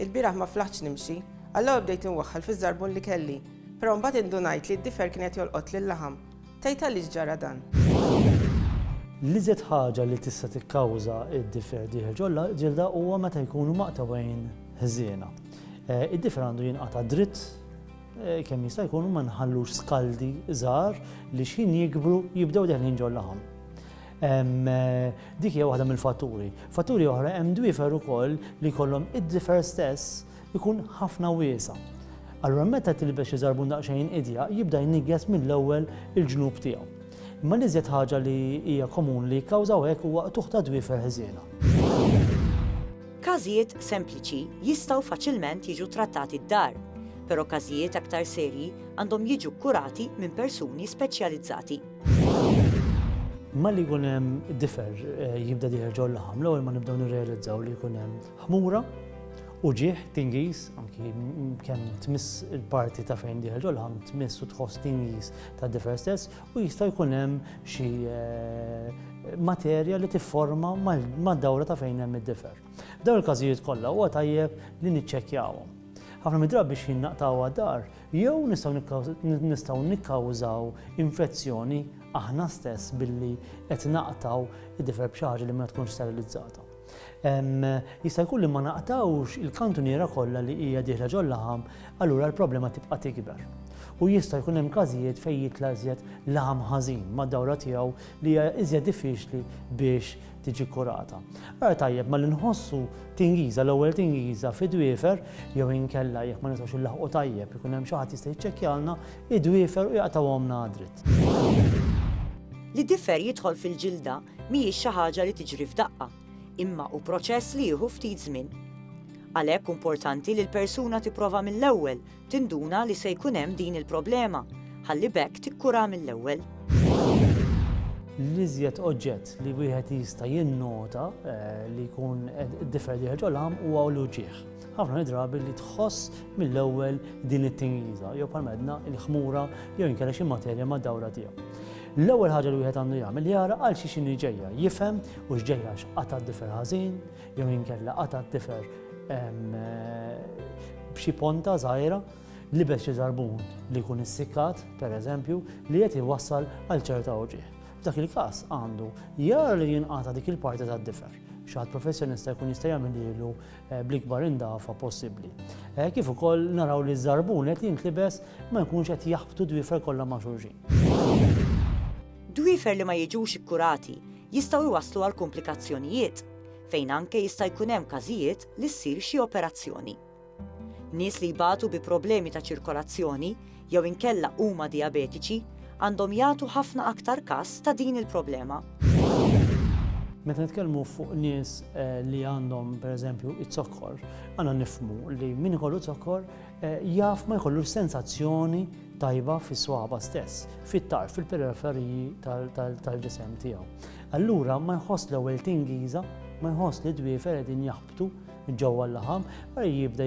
Il-bieraħ ma flaħtx nimxi. Allura bdejt inwaħħal fiż-żarbun li kelli. Però mbagħad indunajt li d-difer kien qed jolqot lil-laħam. Tgħid għaliex ġara dan? L-iżjed ħaġa li tista' tikkawża d-difer dieħel ġol-ġilda huwa meta jkunu maqtugħin ħżiena. Id-difer għandu jinqata' dritt kemm jista' jkun u ma nħallux skaldi żgħar li xħin jikbru jibdew deħlin ġol-laħam. Dik hija waħda mill-fatturi. Fatturi oħra hemm dwifer ukoll li jkollhom id-difer stess ikun ħafna wiesa'. Allura meta tilbex xi żarbun daqsxejn idja jibda jnigges mill-ewwel il-ġnub tiegħu. Imma li żjed ħaġa li hija komun li jikkawżaw hekk huwa qtuħ ta' dwifer ħżiena. Każijiet sempliċi jistgħu faċilment jiġu trattati d-dar, però każijiet aktar serji għandhom jiġu kkurati minn persuni speċjalizzati. Malli jkun hemm difer eh, jibda diħer ġol laħam, l-ewwel ma nibdew nirrealizzaw li jkun hemm ħmura u ġieħ tingiż, anki kemm tmiss il-parti ta' fejn diħer ġol laħam tmiss u tħoss tingiż ta' difer stess u jista' jkun hemm xi eh, materja li tifforma mad-dawra ta' fejn hemm id-difer. Dawn il-każijiet kollha huwa tajjeb li niċċekkjawhom. Ħafna midrab biex jinnaqtaw għad-dar Jew nistgħu nikkawżaw infezzjoni aħna stess billi qed naqtgħu d-difer b'xi ħaġa li ma tkunx sterilizzata. Jista' jkun li ma naqtgħux il-kantuniera kollha li hija dieħla ġol-laħam, allura l-problema tibqa' tikber. U jista' jkun hemm każijiet fejn jitla' iżjed laħam ħażin mad-dawra tiegħu li hija iżjed diffiċli biex tiġi kurata. Ara tajjeb ma li nħossu tingiża, l-ewwel tingiża fi dwiefer jew inkella jekk ma nistgħux inlaħqu tajjeb ikun hemm xi ħadd jista' jiċċekkjalna id-dwiefer u jaqtgħuhomna dritt. Li difer jidħol fil-ġilda mhijiex xi ħaġa li tiġri f'daqqa, imma hu proċess li jieħu ftit żmien. Għalhekk hu importanti li l-persuna tipprova mill-ewwel Tinduna li se jkun hemm din il-problema, ħalli b'hekk tikkurha mill-ewwel. L-iżjed oġġett li wieħed jista' jinnota eh, li jkun differ li ħerġu l-ħam huwa l-uġieħ. Ħafna drabi li tħoss mill-ewwel din it-tingiża jew bħal medna il-ħmura jew inkella xi materja ma' dawra tiegħu. L-ewwel ħaġa li wieħed għandu jagħmel jara għal xi xini ġejja, jifhem u x'ġejja x'qata' differ ħażin, jew inkella qata' d-difer b'xi ponta żgħira libes xi żarbun li jkun issikkat, pereżempju, li qed iwassal għal ċerta uġigħ. F'dak il-każ għandu jara li jinqata' dik il-parti tad-difer. Xaħat professjonista jkun jista' jagħmel ilu eh, bl-ikbar indafa possibbli. Eh, kif ukoll naraw li żarbun qed jintlibes ma jkunx qed jaħbtu dwifer kollha ma' xulxin. Dwifer li ma jiġux ikkurati jistgħu jwasslu għal komplikazzjonijiet fejn anke jista' jkun hemm każijiet li ssir xi operazzjoni. Nies li jbatu bi problemi ta' ċirkolazzjoni jew inkella huma dijabetiċi għandhom jagħtu ħafna aktar kas ta' din il-problema. Meta nitkellmu fuq nies eh, li għandhom pereżempju iz-zokkor, għandna nifmu li min ikollu zokkor eh, jaf ma jkollu sensazzjoni tajba fis-swaba stess, fit-tarf, fil-periferiji tal-ġisem tiegħu. Allura ma jħoss l-ewwel tingiża, ma jħoss li d-dwiefer qegħdin jaħbtu ġewwa l-laħam, allura jibda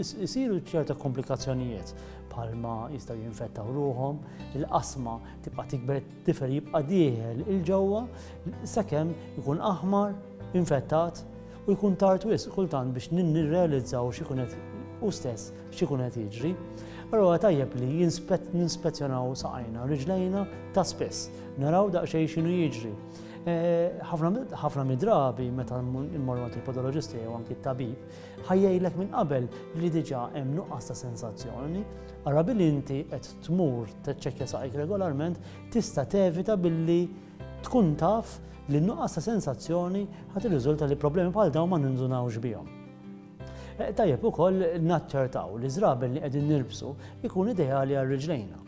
jsiru ċerta komplikazzjonijiet bħalma jistgħu jinfettaw ruħhom, il-qasma tibqa' tikber, d-difer jibqa' dieħel il-ġewwa sakemm ikun aħmar, infettat, U jkun tard wisq kultant biex nirrealizzaw x'ikun qed u stess x'ikun qed jiġri. Allura tajjeb li ninspezzjonaw saqajna u riġlejna ta' spiss, naraw daqsxejn x'inhu jiġri. Eh, ħafna midrabi meta mmorru għand il-podoloġisti jew anki t-tabib, ħajjejlek minn qabel li diġà hemm nuqqas ta' sensazzjoni, ara billi inti qed tmur teċċekkja saqajk regolarment tista' tevita billi Tkun taf li n-nuqqas ta' sensazzjoni ħa tirriżulta li problemi bħal dawn ma nindunawx bihom. Eh, tajjeb ukoll naċċertaw li żraben li qegħdin nirbsu jkun ideali għal riġlejna.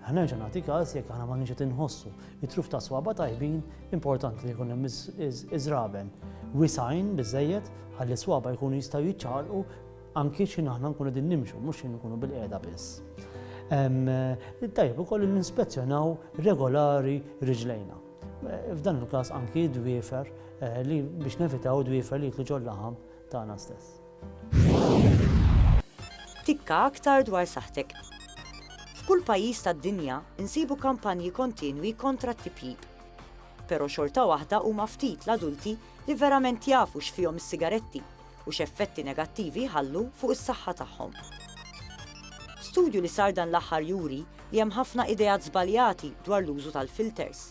Ħnerġa' nagħti każ jekk aħna ma nix qed inħossu it-truf ta' swaba tajbin importanti li jkun hemm iż-żraben wisajn biżejjed ħalli swaba jkunu jistgħu jiċċaqalqu Anki x'ħin aħna nkunu qegħdin nimxu, mhux x'ħin nkunu bilqiegħda biss. Tajjeb ukoll ninspezzjonaw regolari riġlejna. F'dan il-każ anki dwiefer eh, li biex nevitaw dwiefer li jitlu ġol-laħam tagħna stess. Tikka aktar dwar saħtek. F'kull pajjiż tad-dinja insibu kampanji kontinwi kontra t-tipjib. Però xorta waħda huma ftit l-adulti li verament jafu x'fihom is-sigaretti u x'effetti negattivi jħallu fuq is-saħħa tagħhom. Studju li sar dan l-aħħar juri li hemm ħafna ideat żbaljati dwar l-użu tal-filters.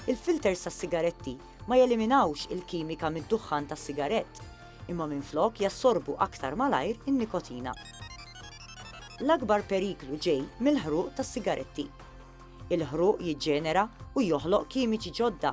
Il-filters tas-sigaretti ma jeliminawx il-kimika mid-duħħan tas-sigarett, imma minflok jassorbu aktar malajr in-nikotina. L-akbar periklu ġej mill-ħruq tas-sigaretti. Il-ħruq jiġġenera u joħloq kimiċi ġodda